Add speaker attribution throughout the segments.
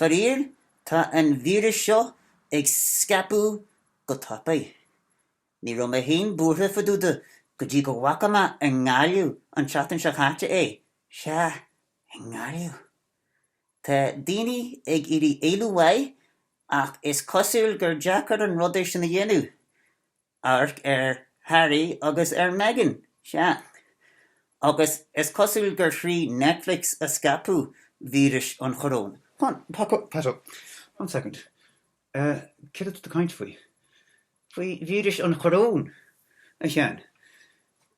Speaker 1: Faraor, tá an víreas seo ag scaipeadh go tapaidh. Ní raibh mé féin buartha fadúda go dtí go bhfaca mé i nGaillimh an tseachtain seo chaite é, sea, i nGaillimh. Tá daoine ag iarraidh éalú uaidh ach is cosúil gur deacair an rud é sin a dhéanamh. amharc ar Harry agus ar Meghan, sea, agus is cosúil gur thrí Netflix a scaipeadh víris an choróin, fan,
Speaker 2: Pato, one second, céard atá tú ag caint faoi?
Speaker 1: Faoi víris an choróin, a Sheáin.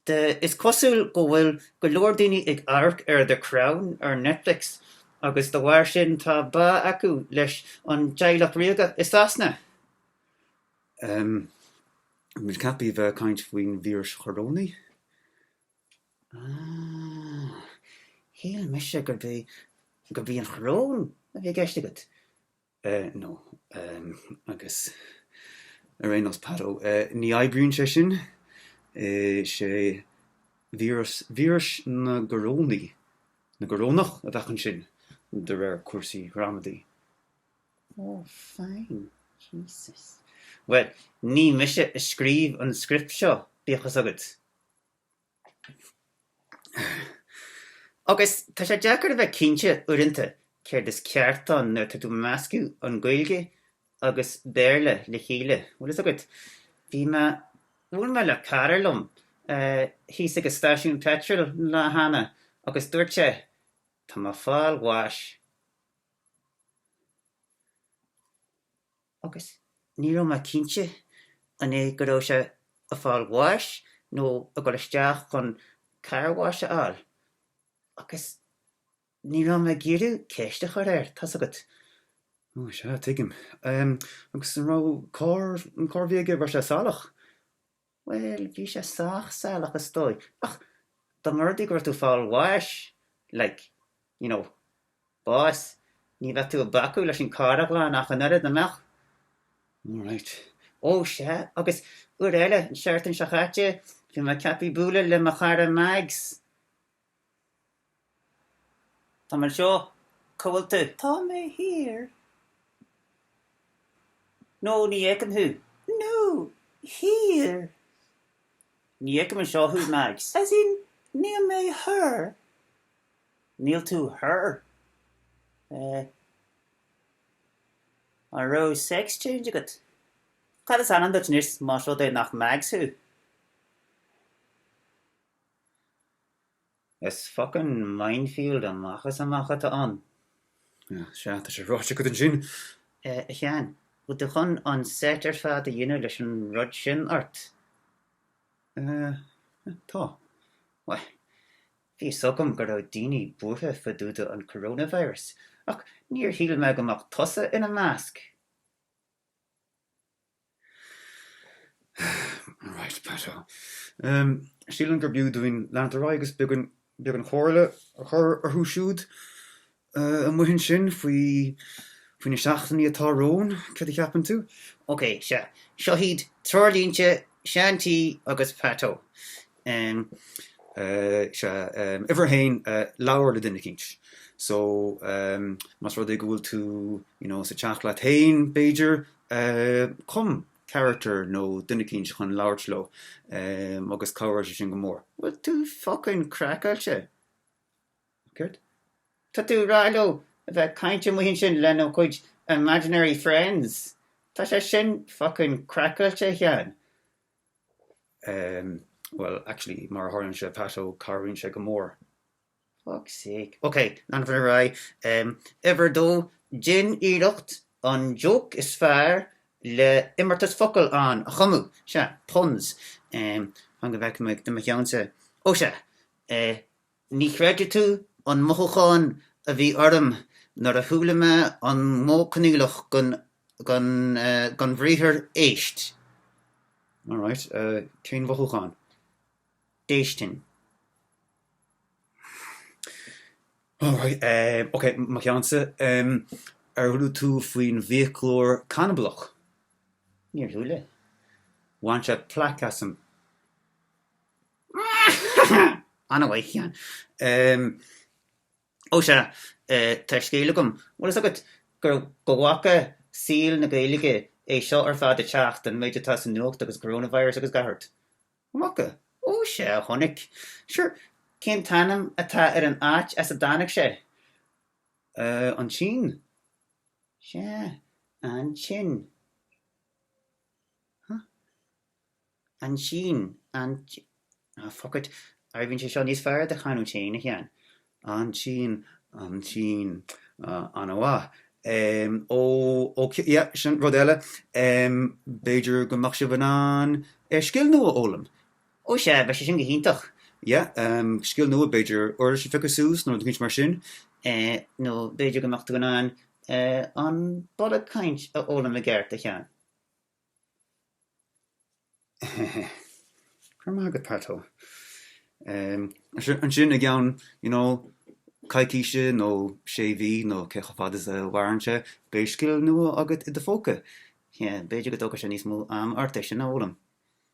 Speaker 1: Sea, is cosúil go bhfuil go leor daoine ag amharc ar The Crown ar Netflix agus de bharr sin tá bá acu leis an Teaghlach Ríoga i Sasana.
Speaker 2: Tá muid ceaptha a bheith ag caint faoin víris chorónaigh. Aah.
Speaker 1: Shíl mise gurb é, gurb í an choróin a bhí i gceist agat. Eh, no.
Speaker 2: Em, agus ar aon nós, Pato, eh, ní oibríonn sé sin. Eh, sé víreas, víris na gcorónaí, na gcorónach a bheadh ansin, de réir cúrsaí ghramadaí. Ó,
Speaker 1: fine, Jesus. Bhuel, ní mise a scríobh an script seo, bíodh fhios agat. Agus tá sé deacair a bheith cinnte, uaireanta, céard is ceart ann nuair atá tú ag meascadh an Gaeilge agus Béarla le chéile, bhfuil fhios agat. Bhí mé, bhuail mé le cara liom thíos ag an stáisiún peitril lá cheana agus dúirt sé, Tá mé fáil bháis. agus ní raibh mé cinnte an é go raibh sé ag fáil bháis nó ag dul isteach chun car wash a fháil agus ní raibh mé ag iarraidh ceist a chur air, tá's agat. Ó, sea,
Speaker 2: tuigim. Agus an raibh carr, an carr a bhí aige, raibh sé salach?
Speaker 1: Bhuel, bhí sé sách salach is dóigh, ach dá mba rud é go raibh tú fáil bháis, like, you know, bás, ní bheadh tú ag bacadh leis an carr a ghlanadh ach an oiread, an
Speaker 2: mbeadh? Alright. Ó,
Speaker 1: sea, agus uair eile, an tseachtain seo chaite, bhí mé ceaptha bualadh le mo chara Mags. Tá mé anseo. Cá bhfuil tú? Tá mé thiar. No, ní fheicim thú. No, thiar. Ní fheicim anseo thú, Mags. As in, níl mé thoir. Níl tú thoir. Eh. An raibh sex change agat? Cad is ainm duit anois más rud é nach Mags thú? Is focain minefield amach is amach atá ann. Ach,
Speaker 2: sea, tá sé ráite agat ansin. A Sheáin,
Speaker 1: bhfuil tú chun an seit ar fad a dhéanamh leis an rud sin ort?
Speaker 2: Tá. Bhuel,
Speaker 1: bhí fhios agam go raibh daoine buartha fadúda an coronavirus, ach níor shíl mé go mbeadh tusa ina measc!
Speaker 2: Alright, Pat Ó. Sílim gurb fhiú dúinn leanúint ar aghaidh agus beagán comhairle a chur orthu siúd amuigh ansin faoi na seachtainí atá romhainn, cad a cheapann tú? OK, sea.
Speaker 1: Seo hiad treoirlínte Seán T agus Pat Ó.
Speaker 2: Is ea. Uimhir a haon, labhair le duine eicínt. So, más rud é go bhfuil tú, you know, sa teach leat féin, b'fhéidir, cum character nó duine eicínt chun labhairt leo agus cabhróidh sé sin go mór. Bhfuil tú
Speaker 1: focain craiceáilte? Caidé tá tú a rá leo? A bheith ag caint amuigh ansin lena gcuid imaginary friends? Tá sé sin focain craiceáilte a Sheáin.
Speaker 2: bhuel, actually, mar a tharlaíonn sé, Pat Ó, cabhraíonn sé go mór. Fuck's
Speaker 1: sake. Ok, leanfainn ar aghaidh. Uimhir a dó, déan iarracht an joke is fearr le imeartas focal ann a chumadh. Sea, puns. Fan go bhfeicfidh mé do mo cheannsa. Ó sea, Ní chreidfidh tú an mothúchán a bhí orm nuair a chuala mé an Modh Coinníollach don bhriathar éist.
Speaker 2: Alright, cén mothúchán?
Speaker 1: Déistin.
Speaker 2: Alright, ok, mo cheannsa. Ar chuala tú faoin bhfiaclóir canablach? Níor
Speaker 1: chuala. Bhain sé
Speaker 2: plaic asam.
Speaker 1: Ana-mhaith, a Sheáin. Ó sea, tá scéal agam. Bhfuil fhios agat gur go bhfaca saol na Gaeilge é seo ar fad ag teacht, an méid atá sa nuacht agus coronavirus agus gach rud? An bhfaca? Ó sea, chonaic. Sure, cén t-ainm atá ar an áit as a dtáinig
Speaker 2: sé? An tSín. Sea,
Speaker 1: an-tinn. Huh. An-tinn, an, ah fuck it, oibríonn sé seo níos fearr i do chanúint féin, a Sheáin.
Speaker 2: An-tinn, an-tinn, ah, an-mhaith. Em, ó, ó, yeah, sin rud eile. Em, b'fhéidir go mbeadh sibh in ann, eh, scil nua a fhoghlaim. Ó sea, bheadh
Speaker 1: sé sin go hiontach. Yeah,
Speaker 2: em, scil nua, b'fhéidir uirlis a phiocadh suas nó rud eicínt mar sin. Eh, nó
Speaker 1: b'fhéidir go mbeadh tú in ann, eh, an bloody caint a fhoghlaim i gceart, a Sheáin.
Speaker 2: Ansin i gceann you know coicíse nó sé mhí nó cé chomh fada is a mhaireann sé, beidh scil nua agat i do phóca. B'fhéidir go
Speaker 1: dtógfaidh sé níos mó ama ort é sin a fhoghlaim.